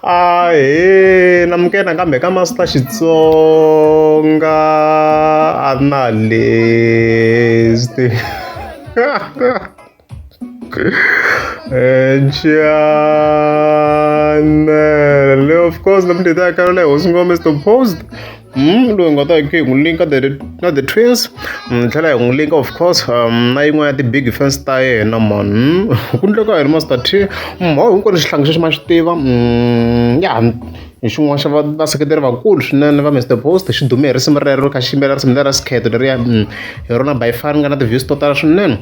Ah, eh, na mukena kambe ka masita xitsonga a na lesti Channel. Of course, the Mdita Caroline was going to post. Mm, loyi nga ta hi hi n'wi linka the na the twins ni mm, tlhela hi n'wi linka of course um, na yin'wana ya ti-big fans ta yena man mm, ku ndleka hi ri master t mhawu hinkwenu xihlangi xexi ma xi tiva ya hi xin'wana xa vaseketeri vakulu swinene va mr post xi dume hi risimu rero kha xi yimbelela risimu lera sikheto leriya hi rona by far nga na ti-views to tala swinene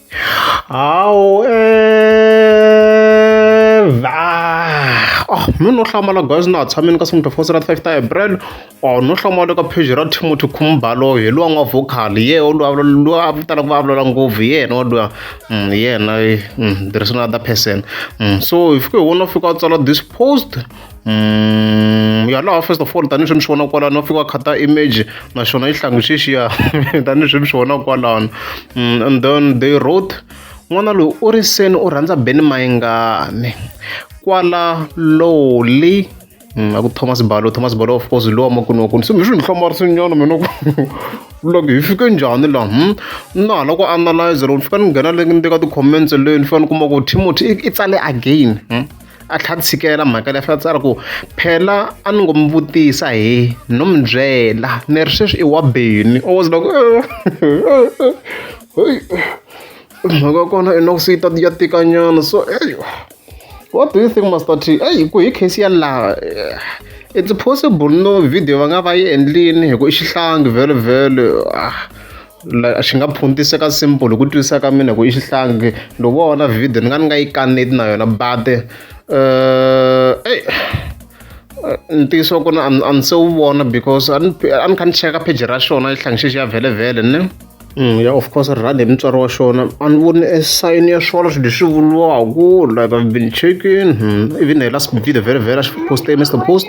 hawu ev ah, ah mi no hlamala guys na ha tshamini ka seventy four serat five ta april or oh, no hlamala ka page ra timothy khumbalo hi luwa n'wa vocal ye o luwa luwa a vitala ku vulavula ngopfu hi yena wa luwa mm, hi yena mm, there is another person mm, so hi fike hi wona fika a tsala this post ya laha first of all tanihileswi mi swi vonaka kwalano va fika va khata image naswona yi hlangi swixiya tanihileswi mi swi vonaka kwalano and then they wrote n'wana loyi u ri seni u rhandza beni mayingani kwala lowly Mm, aku thomas balo thomas balo of course lowa makunwa kuni se mi swi ni hlamarisi nyana mina ku loko hi fike njhani laha hmm? na hala ku analyze loko ni fika ni nghena le ni teka ti-comments leyi ni fika ni kuma ku timothy i tsale again hmm? a tlha tshikela mhaka leyi a tsala ku phela a ni ngo mi vutisa hi no mi byela ni ri sweswi i wa beni i was like mhaka kona i noku se yi ta ya tikanyana so eyi what do you think master t eyi ku hi case ya laha it's possible no video va nga va yi endlini hi ku i xihlangi vhele vhele ah la xi nga phuntiseka simple hi ku twisisa ka mina ku i xihlangi ndo vona video ni nga ni nga yi kaneti na yona but uh, ey ntiyiso ku na a ni se wu vona because a ni kha ni cheka page ra xona yi hlangi xexi ya vhelevhele ne mm, ya of course rand hi mutswari wa xona a ni voni e sign ya swona swilo leswi vuriwaku like i've been checking hmm, even hi last video vhelevhele a xi poste mr post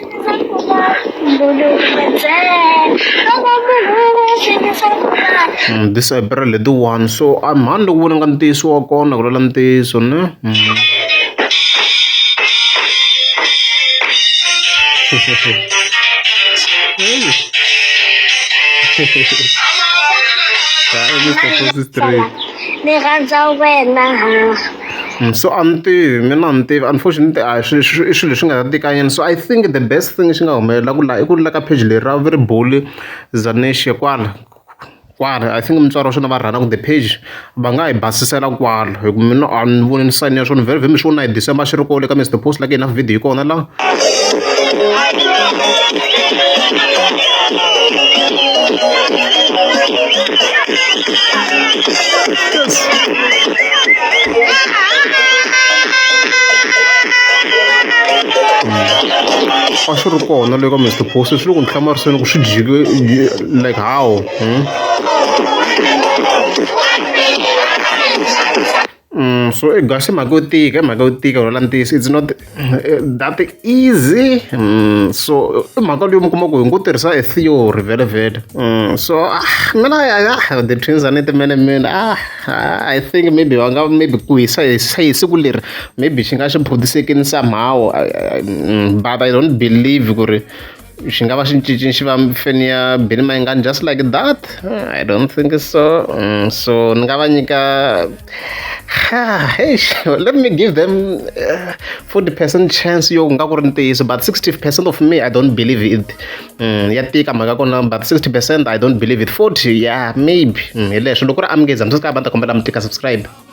disabra letiwani so a mhani loko vona nga ntiyiso wa kona ku lwela ntiyiso ne mm. ni rhandza wena So a ni tivi mina a ni tivi unfortunately a hi swi swi i swilo leswi nga ta tikanyana so I think the best thing lexi nga humelelaku la i ku ri la ka page leri ra va ri bule Zanexe kwala kwala I think mutswari wa swona va run-a ku the page va nga hi basisela kwala hi ku mina a ni voni ni sayine swona vhele vhele mi swi vona hi December xi ri kona le ka Mister Post la ka hina video yi kona la. a swi ri kona le ka mr post swi le ku ni hlamariseni ku swi jike like how hmm? So i gasi i mhaka yo tika i mhaka yo tika ku rhwala ntiyiso it's not that easy so i mhaka leyi mi kuma ku hi ngo tirhisa e theory vhelemuvhele so mina a the twins a ni ti mene mina I think maybe va nga maybe ku hisa hi hi siku leri maybe xi nga xi produce-kini somehow but I don't believe ku ri. xi nga va xi cinci xi va feni ya Billy Mayengani just like that I don't think so mm, so ni nga va nyika let me give them uh, 40 percent chance yo nga ku ri ntiyiso but 60 percent of me I don't believe it mm, ya tika mhaka kona but 60 percent I don't believe it 40 yeah maybe mm, hi leswo loko ri amukeza mi swi ka va ta kombela mi tika subscribe